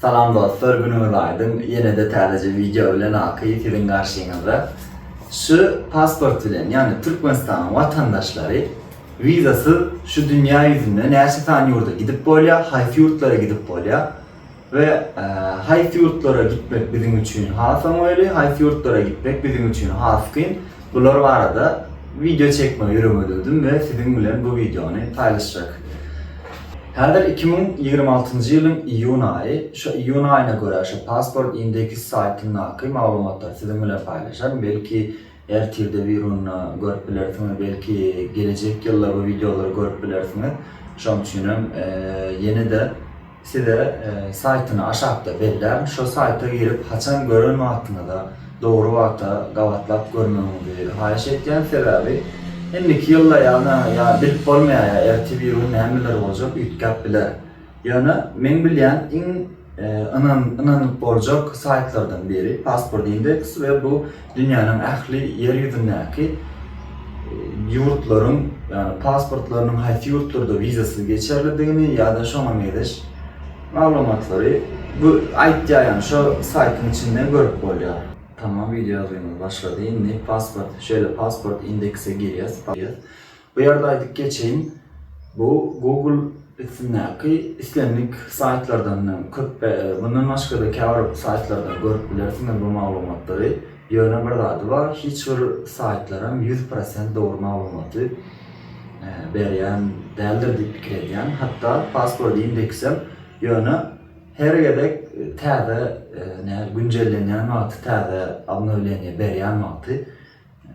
Salam dostlar günüňiz aýdyň ýenede täzeje wideo bilen aky siziň garşyňyzda şu pasport bilen ýagny Türkmenistanyň watandaşlary wizasyz şu dünýä ýüzünde näçe sany ýurda gidip bolýa haýsy ýurtlara gidip bolýa we haýsy ýurtlara gitmek biziň üçin has oňaýly haýsy ýurtlara gitmek biziň üçin has kyn Bular barada wideo çekmegi ýöremededim we siziň bilen bu wideony paýlaşjak. Häzir iki müň ýigrimi altynjy ýylyň iýun aýy. Şu iýun aýyna görä şu Passport Index saýtyndaky maglumatlary siziň bilen paýlaşaryn. Belki ertirde birunda görüp bilersiňiz, belki gelejek ýylda bu wideolary görüp bilersiňiz. Şonuň üçin hem ýene-de Size saýtyny aşakda bellän şo saýta girip haçan gören wagtyňyza dogry wagta gabatlap görmegiňizi haýyş etýän sebäbi indiki ýylda ýagny ýa bilip bolmaýar ýa erti bir gün nämeler boljak üýtgäp biler ýöne meň bilýän iň ynanyp boljak saýtlardan biri passport indeks we bu Dünýäniň ähli ýer ýüzündäki ýurtlaryň, ýagny pasportlarynyň haýsy ýurtlarda wizasyz geçerlidigini ýa-da şoňa meňzeş maglumatlary bu aýtýar, ýagny şo saýtyň içinden görüp bolýar. Tamam wideo ýazgymyz başlady indi pasport şeýle pasport indeksä girýas. Bu ýerde aýdyp geçeýin, bu Google üstündäki islendik saýtlardan köp. Mundan başga-da käbir saýtlardan görüp bilersiňiz bu maglumatlary. Ýöne bir zady bar, hiç bir saýtlaram ýüz prosent dogry maglumaty berýän däldir diýip pikir edýän. Hatda Password Index-em ýöne her gezek täze günjellenýän wagty, täze obnowleniýe berýän wagty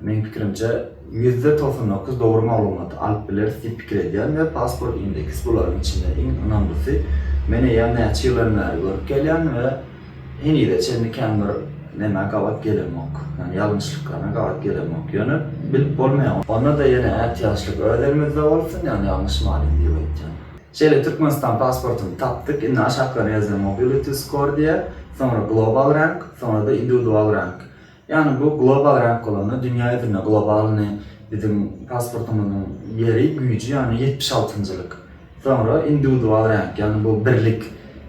Meň pikirimçe ýüzde togsan dokuz dogry maglumaty alyp bileris diýip pikir edýän we pasport indeks bularyň içinde iň ynamlysy. Men eýýäm näçe ýyldan bäri görüp gelýän we henize çenli kän bir nämä gabat gelemok. Ýani ýalňyşlyklaryna gabat gelemok. Ýöne bilip bolmaýar. Onda-da ýene ätiýaçlyk öz elimizde bolsun ýani ýalňyşmalyň diýip aýtýan. Şeýle Türkmenistan pasportyny tapdyk. Indi aşaklarynda ýazýan Mobility Score diýýär. Soňra Global Rank, soňra-da Indiwidual Rank. Ýagny bu global ränk bolanda dünýä ýüzünde globalnyý biziň pasportymyzyň ýeri, güýji ýagny ýetmiş altynjylyk. Soňra indiwidual ränk ýagny bu birlik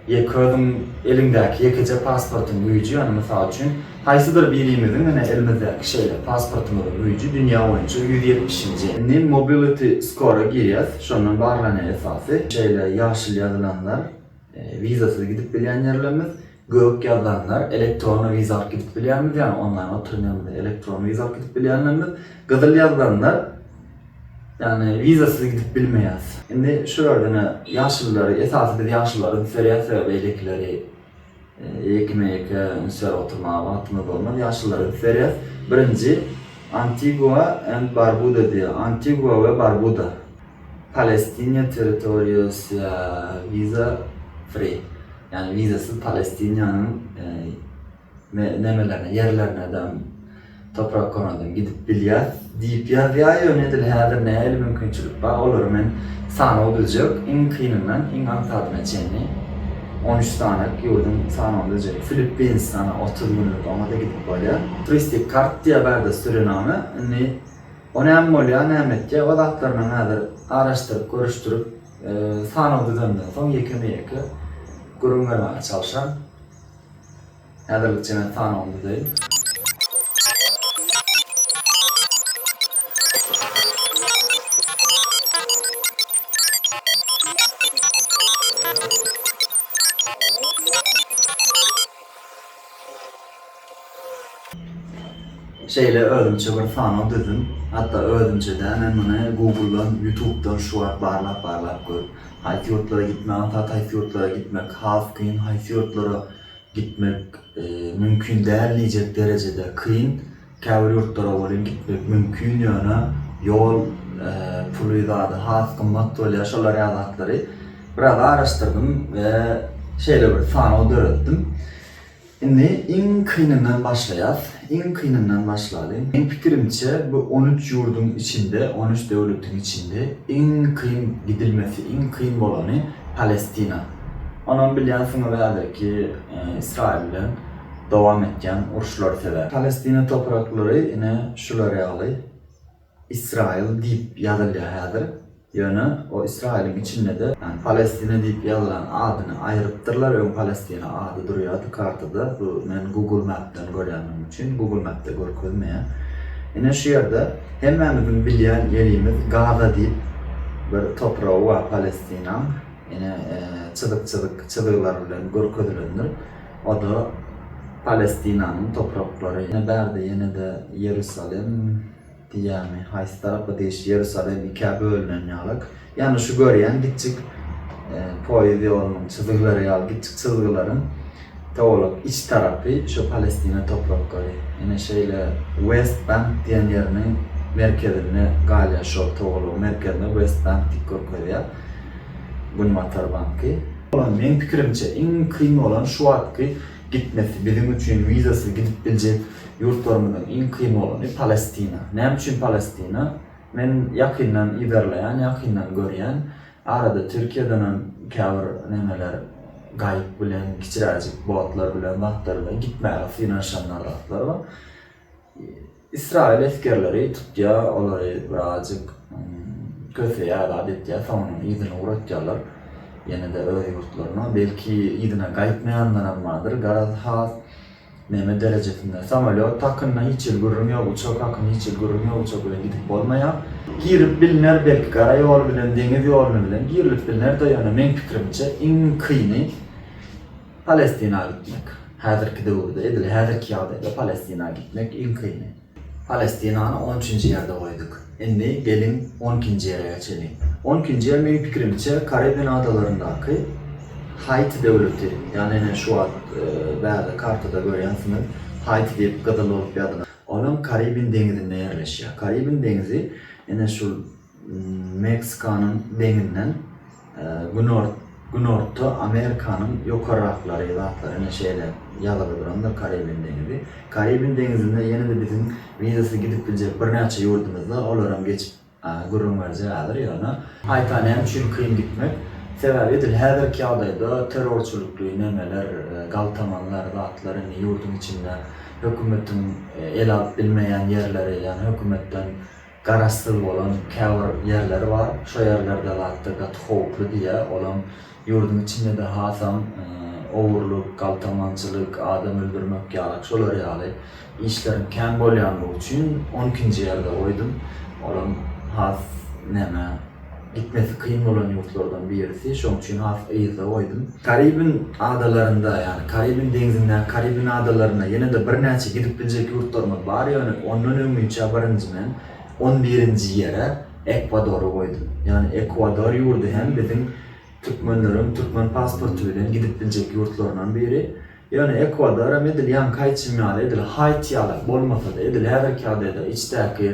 ýeke özüň eliňdäki ýekeje pasportyň güýji ýagny mysal üçin haýsydyr birimiziň ine elimizdäki şeýle pasportymyzyň güýji dünýä boýunça ýüz ýetmişinji. Indi mobility score-a girýäs şondan barlanýar esasy. Şeýle ýaşyl ýazylanlar wizasyz gidip bilýän ýerlerimiz. Gök ýazanlar elektron wiza alyp gidip bilýärmiz ýagny onlaýn oturum ýanymyzda elektron wiza alyp gidip bilýänlerimiz gyzyl ýazanlar ýagny wizasyz gidip bilmeýäs. Indi şulardan ýaşulylary esasy biz ýaşulylary üns berýäs sebäbi beýlekileri ýekeme ýeke üns berip oturmaga wagtymyz bolmaz ýaşulylary üns berýäs birinji Antigua and Barbuda diýýär Antigua we Barbuda. Palestina territoriýasya visa free, ýagny wizasyz Palestinanyň nämelerine, ýerlerinedem, topraklaradam gidip bilýär diýip ýazýar, ýöne edil häzir nähili mümkinçilik bar, olary men sanaw biljek, iň kynyndan iň aňsadyna çenli on üç sany ýurduň sanawyny biljek. Filippinistana otuz günlük oňa-da gidip bolýar. Turistik kartdiýýär bärde sürename, indi. O näme bolýar näme etýär o zatlaryna häzir garaşdyryp görüşdirip sanaw düzenden soň ýekeme ýeke gürrüň bermäge çalşan. Häzirlikçe men sanawyny düzeýin. Şeýle özümçe bir sanaw düzdüm. Hatda özümçe-dä men muny Google-dan, Youtube-dan şu wagt barlap-barlap görüp, haýsy ýurtlara gitmek aňsat, haýsy ýurtlara gitmek has kyn, haýsy ýurtlara gitmek mümkin däl diýjek derejede kyn, käbir ýurtlara welin gitmek mümkin, ýöne ýol puly zady has gymmat bolýar, şolar ýaly zatlary biraz araşdyrdym we şeýle bir sanaw döretdim. Indi iň kynyndan başlaýas. Iň kynyndan başlaly. Meň pikirimçe bu on üç ýurduň içinde, on üç döwletiň içinde iň kyn gidilmesi, iň kyn bolany Palestina. Onam bilýänsiňiz häzirki Ysraýyl bilen dowam etýän uruşlar sebäp. Palestina topraklary ine şular ýaly. Israil diýip ýazylýar häzir, ýöne o Israiliň içinde-de Palestina diýip ýazylan adyny aýrypdyrlar, öň Palestina ady durýardy kartada, bu men Google Map'den görýändigim üçin, Google Map'de görkezmeýär. Ine şu ýerde hemmämiziň bilýän ýerimiz Gaza diýip bir topragy bar Palestinaň, ine çyzyk-çyzyk çyzgylar bilen görkezilendir. O-da Palestinanyň topraklary. Ýene bärde ýene-de Ýerusalem diýýärmi, haýsy tarapa diýiş, Ýerusalem ikä bölünen ýalyk. Ýagny şu görýän kiçjik poýiz ýolunyň çyzgylary ýaly kiçjik çyzgylaryň towalak iç tarapy şu Palestina topraklary. Ýene şeýle West Bank diýen ýeriniň merkezinde galýar şol towalagyň merkezine West Bank diýip görkezýär. Günbatar banky. Meň pikirimçe iň kyn bolan şu wagtky gitmesi biziň üçin wizasyz gidip biljek ýurtlarymyzyň iň kyn bolany Palestina. Näme üçin Palestina? Men ýakyndan yzarlaýan, ýakyndan görýän. Arada Türkiýedenem käbir nemeler gaýyk bilen, kiçiräjik botlar bilen zatlar bilen gitmäge synanyşanlar zatlar bar. Ysraýyl esgerleri tutýa olary birazjyk köseýä zat etýä soňundan yzyny ugratýalar ýenede öz ýurtlaryna belki yzyna gaýtmaýanlaram bardyr garaz has neme derejesinde samolýot hakynda hiç hili gürrüň ýok uçak hakynda hiç hili gürrüň ýok uçak bilen gidip bolmaýa girip bilner belki gara ýoly bilen deňiz ýoluny bilen girilip bilner-de ýöne meň pikirimçe iň kyny Palestina gitmek. Häzirki döwürde, edil häzirki ýagdaýda Palestina gitmek iň kyny. Palestinany on üçünji ýerde goýduk. Indi geliň on ikinji ýere geçeliň. On ikinji ýer meň pikirimçe Karibin adalaryndaky Haiti döwleti. Ýagny ine şu wagt bärde kartada görýänsiňiz Haiti diýip gyzyl bolup ýazylan. Olam Karibin deňizinde ýerleşýär. Karibin deňizi ine şul Meksikanyň deňinden günorta Amerikanyň ýokarraklary zatlar ine şeýle ýazyly durandyr Karibin deňizi. Karibin deňizinde ýene-de biziň wizasy gidip biljek birnäçe ýurdumyz bar, olaram geçip gürrüň berjek häzir. Ýöne gaýta näme üçin kyn gitmek? Sebäbi edil häzirki ýagdaýda terrorçylykly nemeler, galtamanlar zatlar indi ýurduň içinde hökümetiň ele alyp bilmeýän ýerleri, ýagny hökümetden garaşsyz bolan käbir ýerleri bar. Şo ýerlerde zatda gaty howply diýýä. Olam ýurduň içinde-de hasam ogurlyk, galtamançylyk, adam öldürmek ýalyk şolar ýaly işleriň kän bolýanlygy üçin on ikinji ýerde goýdum. Olam has näme. Gitmesi kyn bolan ýurtlardan birisi, şonuň üçin has yzda goýdum. Karibin adalarynda, ýagny Karibin deňzindäki Karibin adalaryna ýene-de birnäçe gidip biljek ýurtlarymyz bar, ýöne ondan öňinçä birinji men on birinji ýere Ekwadory goýdum. Ýagny Ekwador ýurdy hem biziň türkmenleriň türkmen pasporty bilen gidip biljek ýurtlaryndan biri. Ýöne Ekwador hem edil ýaňky aýtşym ýaly, edil Haiti ýalak bolmasa-da, edil häzirki ýagdaýda içdäki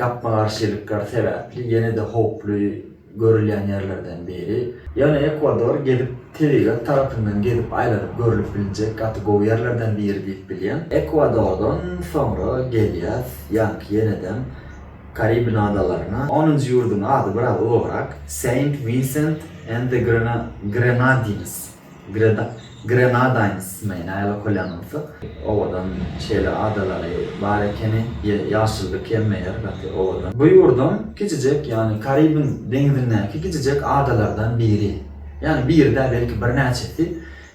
gapma-garşylyklar sebäpli ýene-de howply görülýän ýerlerden biri. Ýöne Ekwador gezip, tebigat tarapyndan gezip aýlanyp görlüp bilinjek gaty gowy ýerlerden biri diýip bilýän. Ekwadordan soňra gelýäs ýaňky ýenedem Karibin adalaryna. Onunjy ýurduň ady biraz ulugrak, Saint Vincent and the Grenadines. Greda, Grenadines mi, näle okalýan bolsa. Owadan şeýle adalary bar ekeni, ýaşyllyk hem meýer gaty owadan. Bu ýurduň kiçijek, ýagny Karibiň deňizindäki kiçijek adalardan biri. Ýagny biri däl, belki birnäçesi.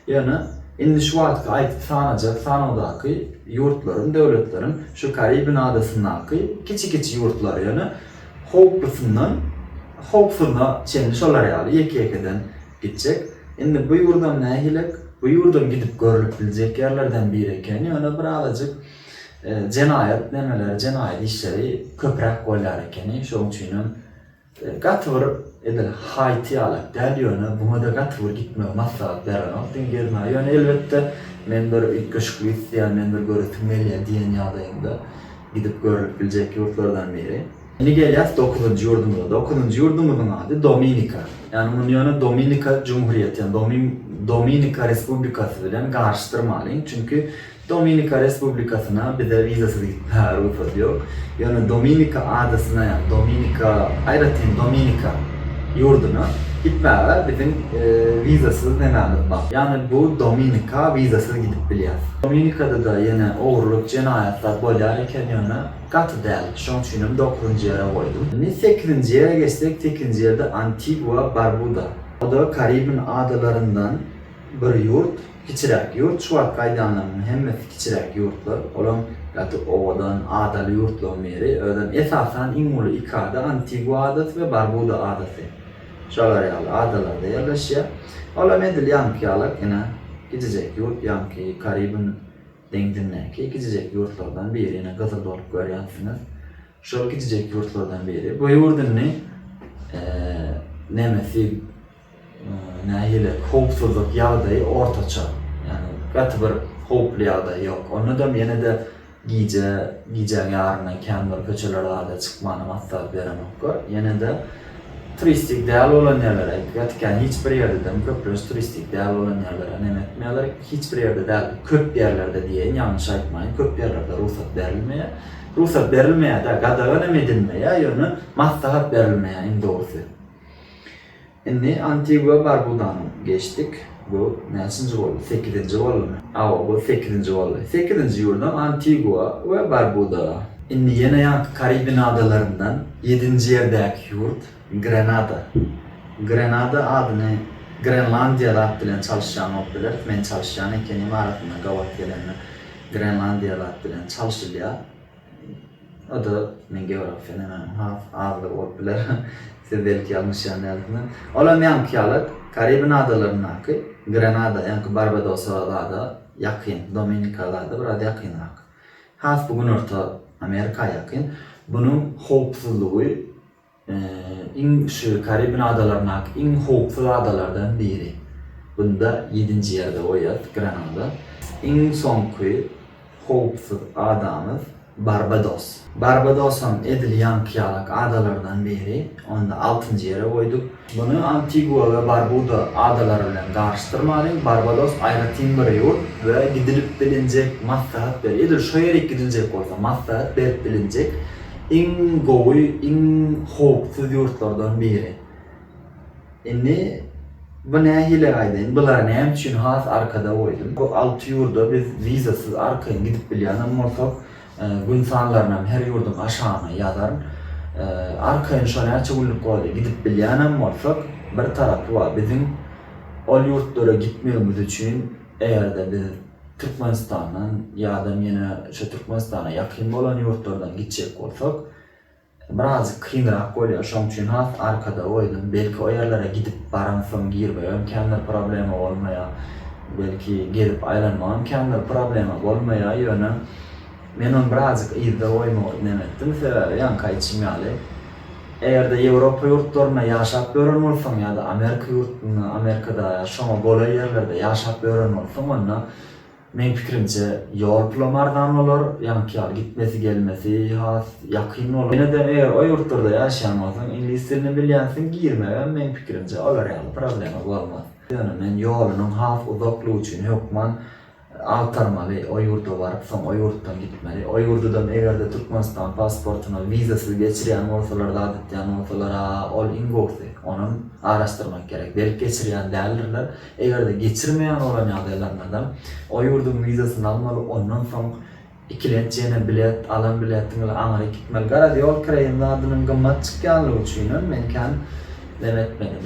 Ýöne indi şu wagtky aýdyp sanajak sanawdaky ýurtlaryň, döwletleriň şu Karibiň adasyndaky kiçi-kiçi ýurtlar. Ýöne howplusyndan howpsuzyna çenli şolar ýaly ýeke-ýekeden Gitjek. Indi bu ýurdam nähilek? Bu ýurdam gidip görlüp biljek ýerlerden biri eken, ýöne bir azajyk jenaýat nemeleri, jenaýat işleri köpräk bolýar ekeni, şoň üçinem gaty bir edil Haýti ýalak däl, ýöne buňa-da gaty bir gitmegi maslahat berenok diňe gezmä, ýöne elbetde men bir üýtgeşiklik isleýän, men bir göresim gelýä diýen ýagdaýyňda gidip görlüp biljek ýurtlardan biri. Indi gelýäs dokuzynjy ýurdumyza. Dokuzynjy ýurdumyzyň ady Dominika. Ýagny muny ýöne Dominika Jumhuriýeti, ýagny Dominika Respublikasy bilen garyşdyrmalyň. Çünki Dominika Respublikasyna bize wizasyz gitmäge rugsat ýok. Ýöne Dominika adasyna, ýagny Dominika, aýratyn Dominika ýurduna gitmäge biziň wizasyz nememiz bar. Ýagny bu Dominika wizasyz gidip bilýäs. Dominikada-da ýene ogurlyk, jenaýatlar bolýar eken ýöne. Gaty däl, şoň üçinem dokuzynjy ýere goýdum. Indi sekizinji ýere geçsek, sekizinji ýerde Antigua Barbuda. O-da Karibin adalaryndan bir ýurt, kiçiräk ýurt. Şu wagtky aýdanlarymyň hemmesi kiçiräk ýurtlar. Olam gaty owadan, adaly ýurtlaryň biri. Özem esasan iň uly iki ada, Antigua adasy we Barbuda adasy. Şolar ýaly adalarda ýerleşýär. Olam edil ýaňky ýalak, ine, kiçijek ýurt, ýaňky Karibin Deňzindäki kiçijek ýurtlardan biri ýene gyzyl bolup görýänsiňiz. Şol kiçijek ýurtlardan biri. Bu ýurt indi nemesi nähili howpsuzlyk ýagdaýy ortaça. Ýagny gaty bir howply ýagdaý ýok. Ondadam ýene-de gije, gijäň ýarymdan kän bir köçeler zada çykmanam azzat berenoklar. Ýene-de Turistik däl bolan ýerlere aýdyp ýatyk ýany hiç bir ýerde dem köplenç turistik däl bolan ýerlere nem etmeýärler hiç bir ýerde däl köp ýerlerde diýeýin ýalňyş aýtmaýyn köp ýerlerde rugsat berilmeýär rugsat berilmeýär däl gadagan hem edilmeýär ýöne maslahat berilmeýär iň dogrusy indi antigua barbudany geçdik. Bu näçinji boldy? Sekizinji boldumy? Hawa, bu sekizinji boldy. Sekizinji ýurdam Antigua we Barbuda. Indi ýene ýaňky Karibin adalaryndan ýedinji ýerdäki ýurt Grenada. Grenada adyny Grenlandiýa zat bilen çalyşýan bolup bileris. Men çalyşýan ekenim arasynda gabat gelenler Grenlandiýa zat bilen çalşylýar. O-da men geografiýa nämäniň has azlygy bolup biler. Siz belki ýalňyşýan dälsiňiz. Ol hem ýaňky ýaly Karibin adalaryndaky Grenada, ýaňky Barbadosa zada ýakyn, Dominika zada biraz ýakynrak. Has bu Günorta Amerika ýakyn. Bunuň howpsuzlygy Iň şu Karibin adalaryndaky iň howpsuz adalardan biri. Bunda ýedinji ýerde goýýas Grenada. Iň soňky howpsuz adamyz Barbados. Barbadosam edil ýaňky ýalak adalardan biri. Onda altynjy ýere goýduk. Muny Antigua we Barbuda adalary bilen garyşdyrmalyň. Barbados aýratyn bir ýurt we gidilip bilinjek maslahat ber. Edil şo ýerik gidiljek bolsa maslahat berip bilinjek. iň gowy, iň howpsuz ýurtlardan biri. Indi bu nähili aýdaýyn, bulary näme üçin has arkada goýdum? Bu alty ýurda biz wizasyz arkaýyn gidip bilýän hem bolsak, gün sanlaryny hem her ýurduň aşagyna ýazaryn. Arkaýyn şo näçe günlük boldy, gidip bilýän hem bolsak, bir tarapy bar, biziň ol ýurtlara gitmegimiz üçin eger-de biz Türkmenistandan ýadam ýene şo Türkmenistana ýakyn bolan ýurtlardan gitjek bolsak birazjyk kynrak bolýar şoň üçin has arkada goýdum belki o ýerlere gidip baramsoň girmegem kändir problema bolmaýar belki gezip aýlanmagam kändir problema bolmaýar ýöne Men ony birazjyk yzda goýmagy ünem etdim, sebäbi ýaňky aýtşym ýaly, eger-de Ýewropa ýurtlarynda ýaşap ýören bolsaň ýa-da Amerika ýurtunda, Amerikada ýa şoňa golaý ýerlerde ýaşap ýören bolsaň, onda, meň pikirimçe, ýol pulam arzan bolar, ýaňky ýaly gitmesi-gelmesi has ýakyn bolar. Ýene-de eger o ýurtlarda ýaşaýan bolsaň, iňlis dilini bilýänsiň, girmegem, meň pikirimçe, olar ýaly problema bolmaz. Ýöne men ýolunyň has uzaklygy üçin hökman agtarmaly, o ýurda baryp, soň o ýurtdan gitmeli. O ýurdudam eger-de Türkmenistan pasportyna wizasyz geçirýän bolsalar, zat etýän bolsalar-a, ol iň gowusy. Onam araşdyrmak gerek. Belki geçirýän däldirler. Eger-de geçirmeýän bolan ýagdaýlarynadam o ýurduň wizasyny almaly, ondan soň Ikilenç ýene bilet, alan biletiň ile aňry gitmeli. Garaz, ýol kireýiň zadynyň gymmat çykýanlygy üçinem men kän lem etmedim.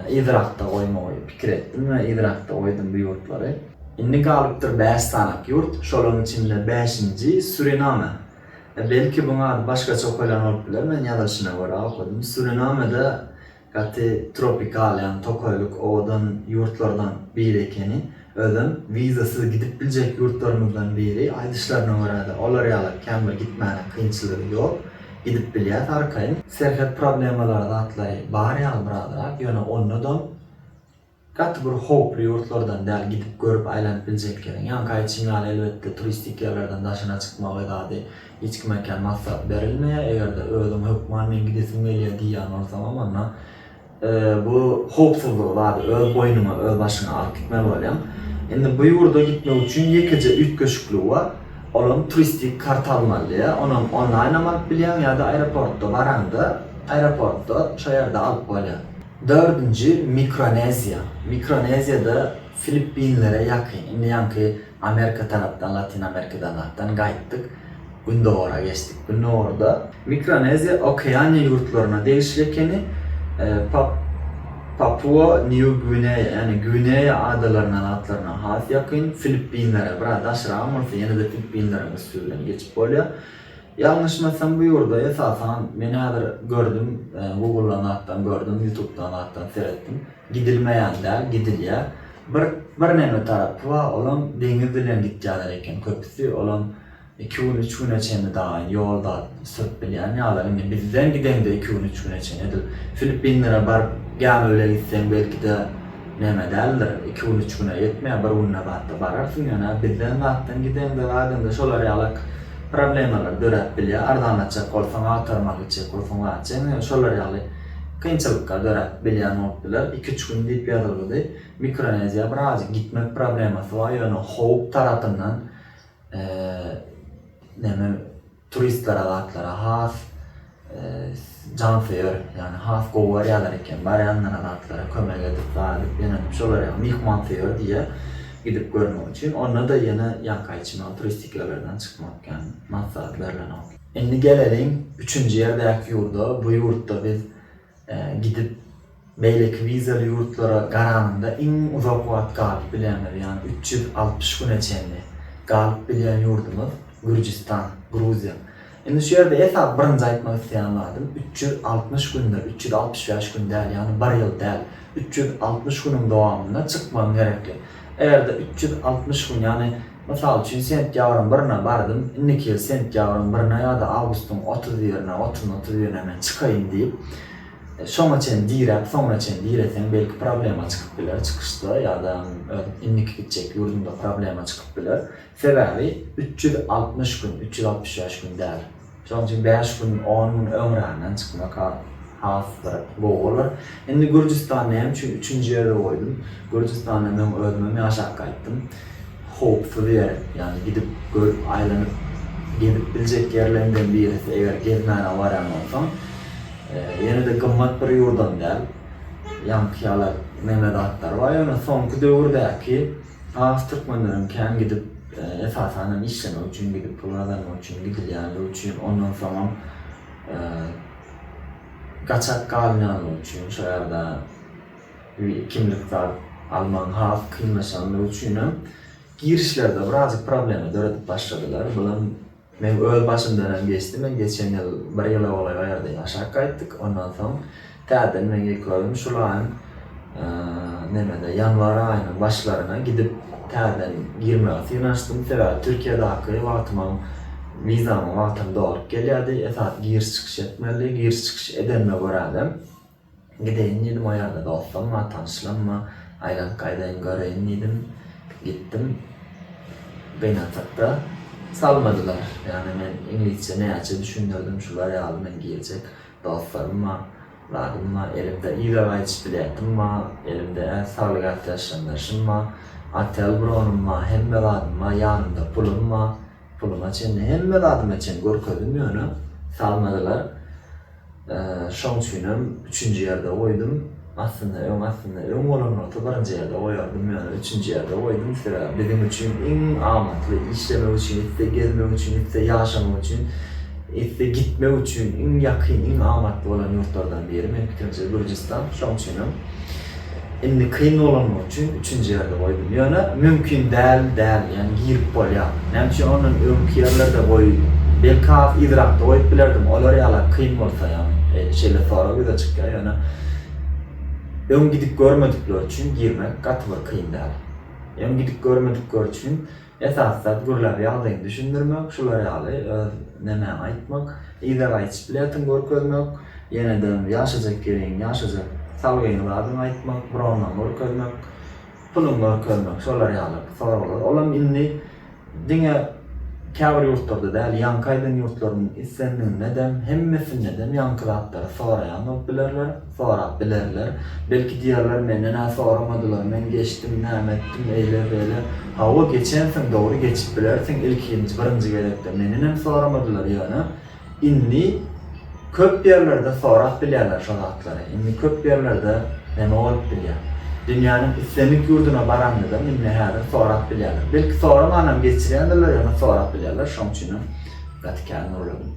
Yzrakda goýmagy pikir etdim we yzrakda goýdum bu ýurtlary. Indi galypdyr bäş sanak ýurt, şolaryň içinde bäşinji, Suriname. Belki, buň ady başgaça okalýan bolup biler, men ýazylyşyna görä okadym. Surinamede Gaty tropikal ýagny tokaýlyk owadan ýurtlardan biri ekeni. Özem wizasyz gidip biljek ýurtlarymyzdan biri. Aýdyşlaryna görä-de olar ýaly kän bir gitmäne kynçylygy ýok. Gidip bilýäs arkaýyn. Serhet problemalary zatlary bar ýaly birazrak ýöne onda-dam Gaty bir howply ýurtlardan däl gidip görüp aýlanyp biljek ýeriň. Ýaňky aýtşym ýaly elbetde turistik ýerlerden daşyna çykmak edady hiç kime kän maslahat berilmeýär. Eger-de özüň hökman men gidesim gelýär diýýän bolsaňam onda bu howpsuzlygy zady öz boýnuňa öz başyňa alyp gitmeli bolýaň. Indi bu ýurda gitmek üçin ýekeje üýtgeşikligi bar. Olam turistik karta almaly diýýär. Onam onlaýnam alyp bilýäň ýa-da aeroportda baraňda aeroportda şo ýerde alyp bolýar. Dördünji, Mikroneziýa. Mikroneziýada Filippinlere ýakyn, indi ýaňky Amerika tarapdan, Latyn Amerikadanatdan gaýtdyk, gündogara geçdik. Gündogarda Mikroneziýa Okeaniýa ýurtlaryna degişli ekeni, Pap, Papua, Nýu Gwineýa, ýagny Gwineýa adalaryndan atlaryna has ýakyn, Filippinlere biraz daşragam bolsa ýene-de Filippinleriň üsti bilen geçip bolýar. Ýalňyşmasam bu ýurda esasan men häzir gördüm guguldan zatdan gördüm ýutubdan zatdan seretdim gidilmeýän däl gidilýä bir bir neme tarapy ba olam deňiz bilen gitýäler eken köpüsi olam iki gün üç güne çenli daýyn ýol zat sürüp bilýän ýalar indi bizden gideňde iki gün üç güne çen edil filippinlere baryp gämi bile gitseň belkide Näme däldir, iki gün üç güne ýetmä bir günde zat-a bararsyň ýöne bizden zatdan gideňde zadynda şolar ýalak problemalary döräp bilýä arzanlatjak bolsaň agtarmaly gitjek bolsaň zat jemi şolar ýaly kynçylyklar döräp bilýän bolup biler iki üç gün diýip ýazylgydy mikroneziýa birazjyk gitmek problemasy bar ýöne howp tarapyndan eee neme Turistlere zatlara has jansöýer ýagny has gowy garýalar eken barýanlara zatlara kömek edip zat edip ýönelim şolar ýaly myhmansöýer diýýä gidip görmek üçin onda da ýene ýanka içme ol turistik ýerlerden çykmak ýan massat berlenok. Indi geleliň üçünji ýerdäki ýurda bu ýurtda biz Gidip beýleki wizaly ýurtlara garanyňda iň uzak wagt galyp bilýäňiz, ýagny üç ýüz altmyş güne çenli galyp bilýän ýurdumyz Gürjüstan, Gruziýa. Indi şu ýerde esasy birinji aýtmak isleýän zadym üç ýüz altmyş gündir, üç ýüz altmyş bäş gün däl, ýagny bir ýyl däl, üç ýüz altmyş günüň dowamynda çykmagyň gerekli. Eger-de üç ýüz altmyş gün, ýagny Mysal üçin, sentýabryň birine bardym, indiki ýyl sentýabryň birine ýa-da awgustyň otuz birine, otuzyna, otuz birine men çykaýyn diýip, şoňa çen diräp, soňuna çen direseň, belki problema çykyp biler çykyşda ýa-da öz indiki gitjek ýurduňda problema çykyp biler. Sebäbi üç ýüz altmyş gün, üç ýüz altmyş bäş gün däl. Şonuň üçin bäş gün, on gün öňränden çykmak has bir gowy bolar. Indi Gürjüstany näme üçin üçünji ýerde goýdum? Gürjüstanda men özümem ýaşap gaýtdym. Howpsuz ýer, ýagny gidip görüp, aýlanyp, gezip biljek ýerleriňden birisi, eger gezmäne barýan bolsaň. Ýene-de gymmat bir ýurdam däl. Ýaňky ýaly näme zatlar bar, ýöne soňky döwürdäki Has türkmenleriň kän gidip, esasan hem işlemek üçin gidip, pul gazanmak üçin gidilýänligi üçin, ondan soňam gaçak galynýanlygy üçin, şo ýerde kimlik zat almagyň has kynlaşanlygy üçinem girişlerde birazjyk problema döredip başladylar. Bulam. Meň öz başymdanam geçdi, men geçen ýyl bir ýyla golaý o ýerde ýaşap gaýtdyk, ondan soň täzeden meň ekogym şul aýyň nämede ýanwar aýynyň başlaryna gidip täzeden girmäge synanyşdym, sebäbi Türkiýedäki wagtymam wizamyň wagtam dolup gelýärdi, esasy giriş-çykyş etmelidi, giriş-çykyş edenime görä-de. Gideýin diýdim o ýerde dostam bar, tanyşlam bar. Aýlanyp gaýdaýyn göreýin diýdim. Gitdim. Gynansakda salmadylar. Ýagny men iňlisçe näçe düşündirdim şular ýaly men girjek dostlarym bar, zadym bar, elimde yza gaýdyş biletim bar, elimde-ä saglyk ätiýaçlandyryşym bar, otel bronym bar, hemme zadym bar, ýanymda pulum bar. Puluma çenli hemme zadyma çen görkezdim ýöne salmadylar. Şoň üçinem üçünji ýerde goýdum. Aslynda öň aslynda öň bolan bolsa birinji ýerde goýardym ýöne üçünji ýerde goýdum sebäbi biziň üçin iň amatly işlemek üçin gitse gezmek üçin gitse ýaşamak üçin gitse gitmek üçin iň ýakyn iň amatly bolan ýurtlardan biri meň pikirimçe Gürjüstan şoň üçinem Indi kyn bolanlygy üçin üçünji ýerde goýdum. Ýöne mümkin däl däl, ýagny girip bolýar. Näme üçin ondan öňki ýerlerde goý, belki has yzrakda goýup bilerdim, olar ýaly kyn bolsa, ýagny şeýle sorag ýüze çykýar, ýöne öň gidip görmedikler üçin girmek gaty bir kyn däl. Öň gidip görmedikler üçin Esasysat gürläp ýagdaýyňy düşündirmek, şular ýaly öz nemäňi aýtmak, yza gaýyşyp bilätiň görkezmek, ýenede ýaşajak ýeriň, ýaşajak salgyň zadyň aýtmak, bronlaň görkezmek, puluň görkezmek şolar ýaly soraglar. Olam indi diňe käbir ýurtlarda däl, ýaňky aýdan ýurtlaryň islendigindedem, hemmesindedem ýaňky zatlary soraýan bolup bilerler. Sorap bilerler. Belki diýerler, menden-ä soramadylar, men geçdim, näme etdim, eýle-beýle. Hawa, geçensiň, dogry, geçip bilersiň, ilkinji, birinji gezekde mendenem soramadylar, ýöne indi köp ýerlerde sorap bilýärler şo zatlary. Indi köp ýerlerde näme bolup bilýär? Dünýäniň islendik ýurduna baranyňyzam indi häzir sorap bilýärler. Belki soramanam geçirýändirler, ýöne sorap bilýärler, şoň üçinem gaty kän gürledim.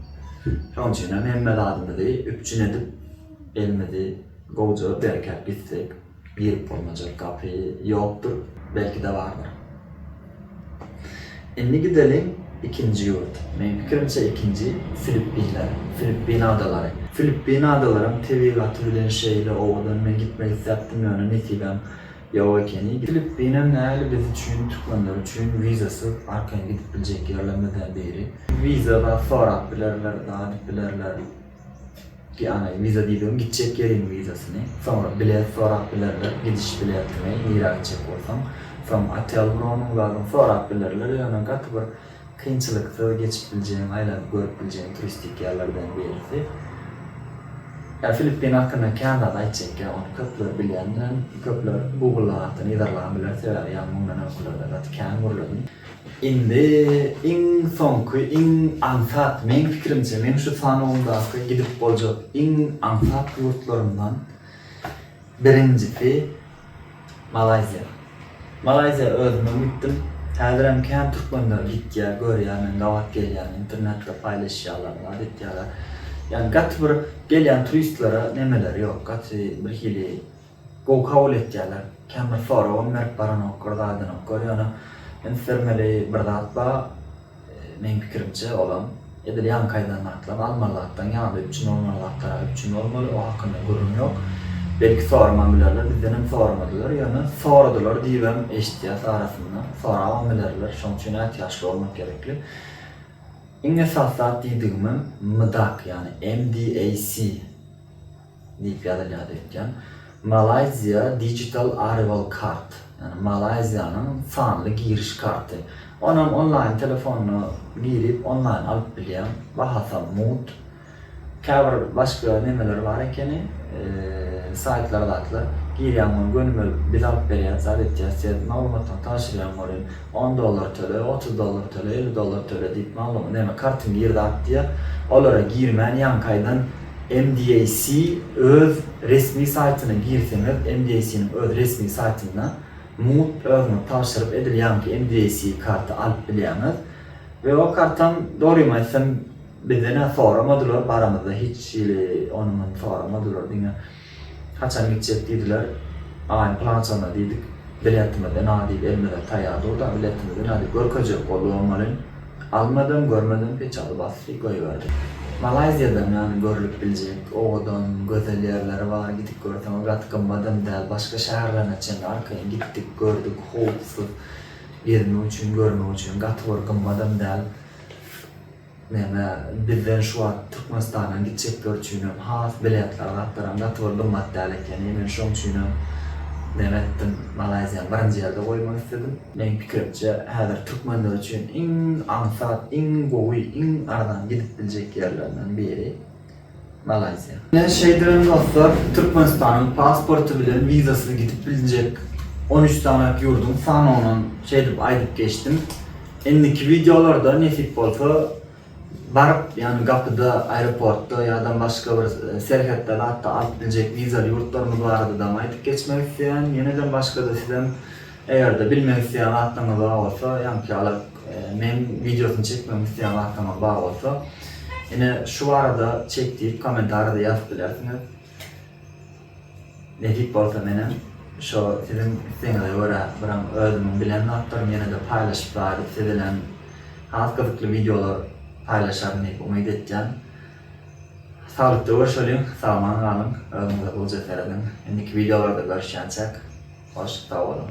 Şoň üçinem hemme zadymyzy üpjün edip, Elimizi gowja berkäp gitsek, girip bolmajak gapy ýokdur, belki-de bardyr. Indi gideliň ikinji ýurt. Meň pikirimçe ikinji Filippinler, Filippin adalary. Filippin adalaryň tebigaty bilen şeýle owadan, men gitmek isläpdim ýöne nesibäm ýok ekeni. Filippinem näli biz üçin, türkmenler üçin wizasyz arkaýyn gidip biljek ýerlerimizden biri. Wiza zat sorap bilerler, zat edip bilerler. Ýagny wiza diýdigiň gitjek ýeriň wizasyny. Soňra bilet sorap bilerler, gidiş biletini, nirä gitjek bolsaň. Soň otel bronyň zadyň sorap bilerler. Ýöne gaty bir kynçylyksyz geçip biljegiň, aýlanyp görüp biljegiň turistik ýerlerden birisi. Ýa Filippin hakynda kän zat aýtjak ýa ony köpler bilýän bilen köpler Google-da gaty yzarlan biler sebäbi ýaňy mundan öňkülerde gaty kän gürledim. Indi iň soňky iň aňsat meň pikirimçe meň şu sanawymdaky gidip boljak iň aňsat ýurtlarymdan birinjisi Malaýziýa. Malaýziýa özümem gitdim. Häzirem kän türkmenler gitýä görýä men gabat gelýän internetde paýlaşýalar zat etýäler. Ýani gaty bir gelýän turistlere nemeleri ýok gaty birhili Gowy kabul etýärler. Kän bir soragam berip baranok, bir zadynok. Gör ýöne üns bermeli bir zat bar, meň pikirimçe olam, edil ýaňkaýdan gatlam almaly zatdan ýaňda üpjün bolmaly zatlara üpjün bolmaly, o hakynda gürrüň ýok. Belki soramam bilerler, bizdenem soramadylar, ýöne soradylar diýibem eşitýäs arasynda, sorabam bilerler, şoň üçin ätiýaçly bolmak gerekli. Iň esasy zat diýdigimem MDAC, ýagny MDAC Diýip ýazylýardy öýtýän. Malaysia Digital Arrival Card, ýagny Malaýziýanyň sanly giriş karty. Onam onlaýn telefonyna girip, onlaýn alyp bilýäň. Bahasam mugt. Käbir başga nemeleri bar ekeni, saýtlar zatlar. Girýäň ony gönümel biz alyp berýäs, zat etýäs, sen maglumatlaryňy tabşyrýaň welin. On dollar töle, otuz dollar töle, elli dollar töle diýip maglumat, näme kartyň girdi atýar. Olara girmän ýaňkaýdan MDAC öz resmi saýtyna girseňiz, MDAC-niň öz resmi saýtynda mugt özüňiz tabşyryp edil ýaňky MDAC karty alyp bilýäňiz. We o kartam dogrymy aýtsam bizden-ä soramadylar, baramyzda hiç hili ony-muny soramadylar diňe. Haçan gitjek diýdiler. Aý, pylançanda diýdik. Biletimiz ynha diýip elimize taýýar durda, biletimiz ynha diýip görkezjek boldy bolmaly. Almadam, görmedem peçaty basdy, goýberdi. Malaýziýadam ýany görlüp biljek owadan, gözel ýerleri bar. Gidip görseňiz gaty gymmatam däl. Başga şäherlerine çenli arkaýyn gitdik, gördük. Howpsuz. Gezmek üçin, görmek üçin gaty bir gymmatam däl. Näme, bizden şu wagt Türkmenistandan gitjekler üçinem has biletler gatlaram gaty bir gymmat däl ekeni, men şoň üçinem näme etdim, Malaýziýany birinji ýerde goýmak isledim. Meň pikirimçe, häzir türkmenler üçin iň aňsat, iň gowy, iň arzan gidip biljek ýerlerinden biri. Malaýziýa. Ine, şeýdibem dostlar, Türkmenistanyň pasporty bilen wizasyz gidip biljek on üç sany ýurduň sanawyny şeýdip aýdyp geçdim. Indiki wideolarda nesip bolsa baryp, ýagny gapyda, aeroportda ýa-da başga bir serhetde zat-da alyp biljek wizaly ýurtlarymyz barada-da aýdyp geçmek isleýän. Ýenedem başga-da sizem Eger-de bilmek isleýän zatlaryňyz bar bolsa, ýaňky ýaly meň wideosyny çekmegimi isleýän zatlaryňyz bar bolsa, ine şu barada çek diýip kommentariýada ýazyp bilersiňiz. Nesip bolsa menem şo siziň islegiňize görä birem özümiň bilen zatlarymy ýene-de paýlaşyp bäri siz bilen has gyzykly wideolar paýlaşaryn diýip umyt etýän. Saglykda görşeliň sagman galyň özüňize goja serediň indiki wideolarda görüşýänçäk hoş sag boluň.